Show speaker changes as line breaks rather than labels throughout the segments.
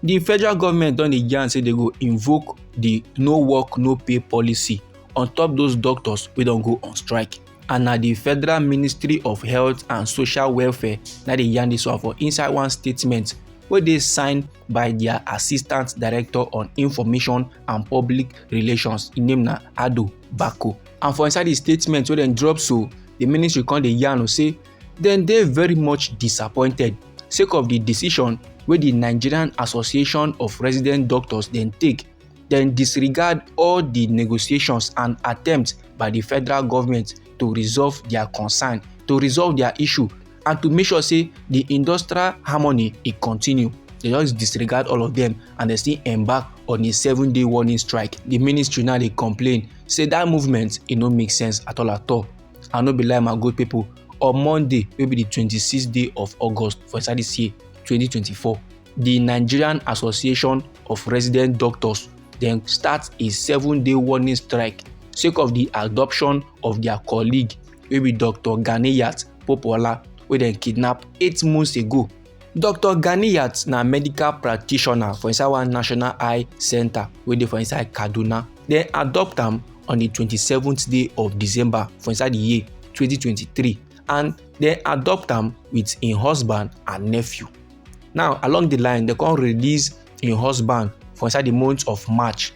di federal government don dey yarn say dey go invoke di no work no pay policy on top those doctors wey don go on strike and na di federal ministry of health and social welfare na dey yarn dis one for inside one statement wey dey signed by dia assistant director on information and public relations im name na ado bako and for inside di statement wey dem drop so di ministry come dey yarn say dem dey very much disappointed sake of di decision wey di nigerian association of resident doctors dem take dem disregard all di negotiations and attempts by di federal government to resolve dia concern to resolve dia issue and to make sure say di industrial harmony e continue they just disregard all of them and they still embark on a seven day warning strike the ministry now dey complain say that movement e no make sense at all at all i no be lie my good people on monday wey be di 26th day of august for inside dis year 2024 di nigerian association of resident doctors dem start a seven day warning strike sake of di adoption of dia colleague wey be dr ganiyat popola wey dem kidnap eight months ago Doctor Ganiyat na medical practitioner for inside one national eye centre wey dey for inside Kaduna. Dem adopt am on di twenty seventh day of December for inside di year twenty twenty three and dem adopt am wit im husband and nephew. Now along di line dem come release im husband for inside di month of March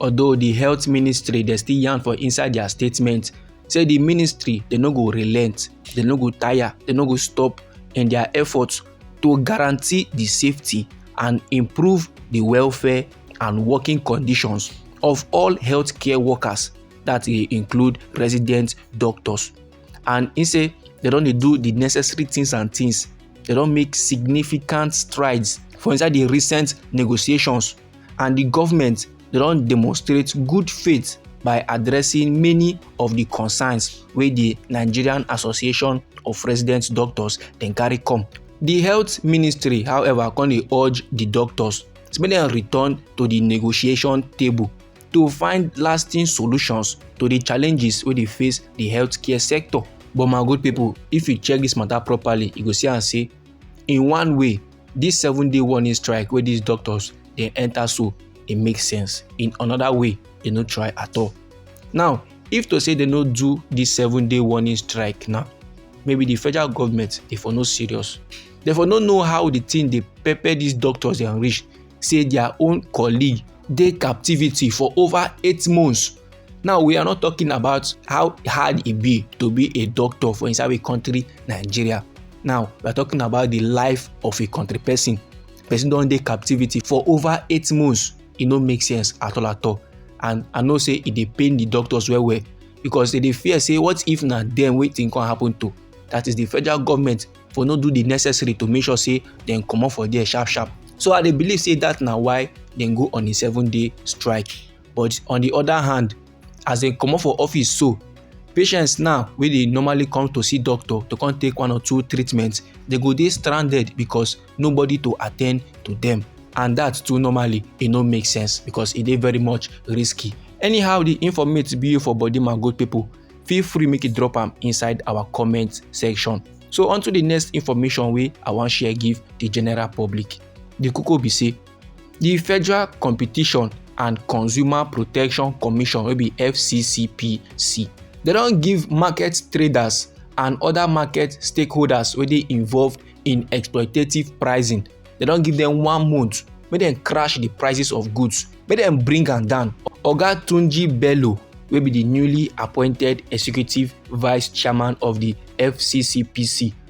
although di health ministry dey still yarn for inside dia statement say di ministry dey no go relent dey no go tire dey no go stop in dia efforts to guarantee di safety and improve di welfare and working conditions of all healthcare workers that dey include resident doctors and im say dem don dey do di necessary things and things dem don make significant strides for inside di recent negotiations and di government don demonstrate good faith by addressing many of di concerns wey di nigerian association of resident doctors dem carry come. di health ministry however come dey urge di doctors make dem return to di negotiation table to find lasting solutions to di challenges wey dey face di healthcare sector. but my good pipo if you check dis mata properly you go see am say in one way this seven day warning strike wey these doctors dey enter so e make sense in another way e no try at all now if to say they no do this seven day warning strike now maybe the federal government dey for no serious they for no know how the thing dey pepper these doctors dey reach say their own colleague dey captivity for over eight months Now, we are not talking about how hard it be to be a doctor for inside a country, Nigeria. Now, we are talking about the life of a country person. Person don dey captivity for over eight months. E no make sense at all at all. And I know say e dey pain the doctors well well because they dey fear say what if na dem wetin come happen to? That is the federal government for no do the necessary to make sure say dem comot for there sharp sharp. So I dey believe say that na why dem go on a seven day strike. but on the other hand as dem comot for office so patients now wey dey normally come to see doctor to come take one or two treatments dey go dey stranded because nobody to attend to them and that too normally e no make sense because e dey very much risky anyhow the informate be for body my good people feel free make you drop am inside our comment section so on to the next information wey i wan share give the general public the koko be say di federal competition and consumer protection commission wey be fccpc dem don give market traders and other market stakeholders wey dey involved in exploitative pricing dem don give dem one month make dem crash di prices of goods make dem bring am down oga tunji bello wey be di newly appointed executive vice chairman of di fccpc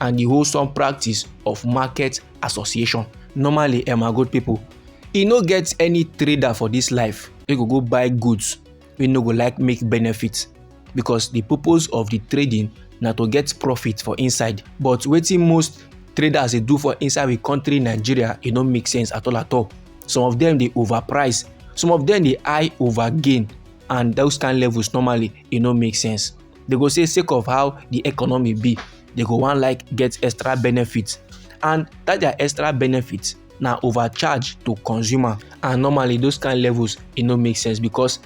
and the wholesome practice of market association normally eh my good people e no get any trader for this life wey go go buy goods wey no go like make benefit because the purpose of the trading na to get profit for inside but wetin most traders dey do for inside the country nigeria e no make sense at all at all some of them dey overprice some of them dey high over gain and those kind levels normally e no make sense they go say sake of how the economy be they go wan like get extra benefit and that their extra benefit na overcharge to consumer and normally those kind levels e no make sense because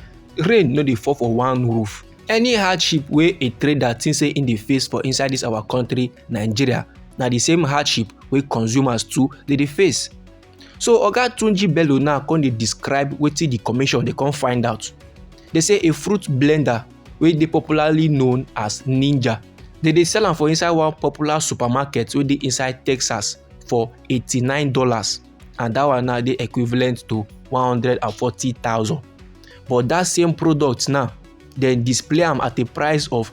rain no dey fall for one roof any hardship wey a trader think say im dey face for inside this our country nigeria na the same hardship wey consumers too dey dey face so oga tunji bello now come dey describe wetin di commission dey come find out dey say a fruit blender wey dey popularly known as ninja dey dey sell am for inside one popular supermarket wey dey inside texas for eighty-nine dollars and dat one now dey equivalent to one hundred and forty thousand but dat same product now dem display am at a price of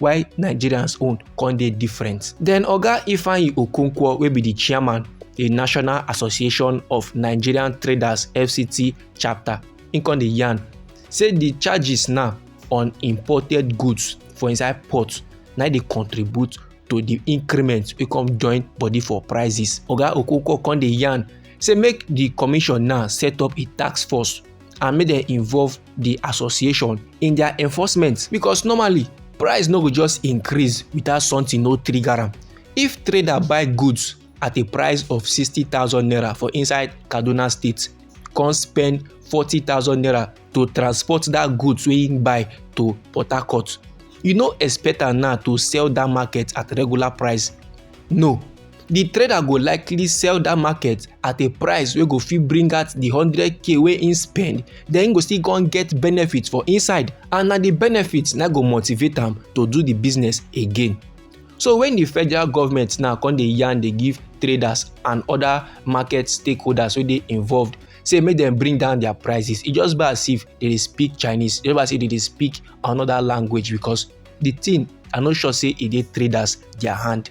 why nigerians own come dey different then oga ifeanyi okonkwo wey be di chairman di national association of nigerian traders fct chapter im come dey yarn say di charges now on imported goods for inside port na dey contribute to di increment wey come join body for prices oga okonkwo come dey yarn say make di commission now set up a task force and make dem involve the association in their enforcement because normally price no go just increase without something no trigger am if trader buy goods at a price of 60,000 naira for inside kaduna state come spend 40,000 naira to transport that goods wey him buy to port harcourt you no expect am now to sell that market at regular price no the trader go likely sell that market at a price wey go fit bring out the 100k wey he spend then he go still come get benefit for inside and na the benefit na go motivate am to do the business again so when the federal government now come dey yarn dey give traders and other market stakeholders wey dey involved say make dem bring down their prices e just be as if they dey speak chinese e just be as if they dey speak another language because the thing i no sure say e dey traders their hand